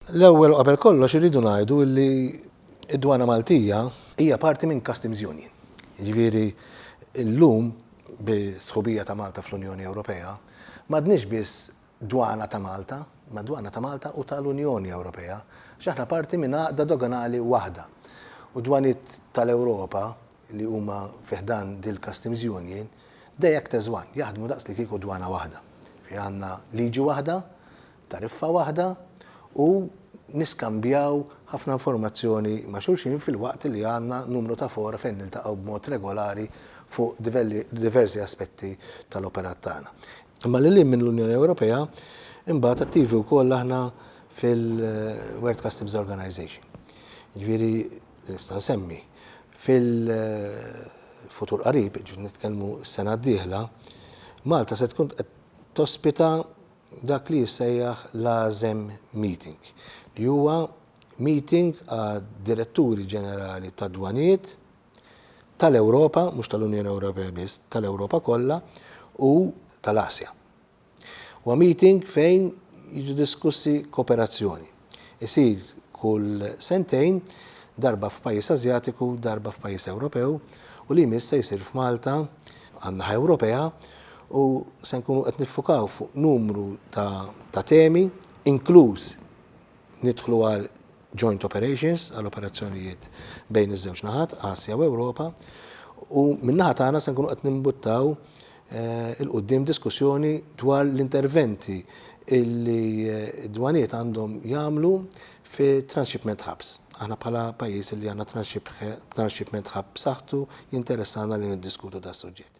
L-ewwel u qabel kollox irridu ngħidu li d-Dwana Maltija hija parti minn Customs Union. Jiġifieri llum bi sħubija ta' Malta fl-Unjoni Ewropea m'għadniex biss Dwana ta' Malta, imma Dwana ta' Malta u tal-Unjoni Ewropea għax aħna parti minn għaqda doganali waħda. U d-dwaniet tal-Ewropa li huma fi ħdan dil-Customs Union they act as one, jaħdmu daqs li kieku dwana waħda. Jiġifieri għandna liġi waħda, tariffa waħda u niskambjaw ħafna informazzjoni ma' xulxin filwaqt li għandna numru ta' fora fejn niltaqgħu b'mod regolari fuq diversi aspetti tal-operat tagħna. Imma lil hinn minn l-Unjoni Ewropea, imbagħad attivi wkoll aħna fil-World Customs Organization. Jiġifieri nista' nsemmi, fil-futur qarib, jiġifieri nitkellmu s-sena d-dieħla, Malta se tkun qed tospita dak li jissejjaħ l-ASEM Meeting, li huwa meeting għad-Diretturi Ġenerali tad-Dwanijiet tal-Ewropa, mhux tal-Unjoni Ewropea biss, tal-Ewropa kollha u tal-Asja. Huwa meeting fejn jiġu diskussi kooperazzjoni. Isir kull sentejn, darba f'pajjiż Ażjatiku, darba f'pajjiż Ewropew u li jmiss se jsir f'Malta, għan-naħa Ewropea, u se nkunu qed niffukaw fuq numru ta' temi, inkluż nidħlu għal joint operations, għal operazzjonijiet bejn iż-żewġ naħat, Asja u Ewropa, u min-naħa tagħna se nkunu qed nimbuttaw 'il quddiem diskussjoni dwar l-interventi li d-dwanijiet għandhom jagħmlu fi transshipment hubs. Aħna bħala pajjiż li għandna transshipment hub b'saħħtu jinteressana li niddiskutu das-suġġett.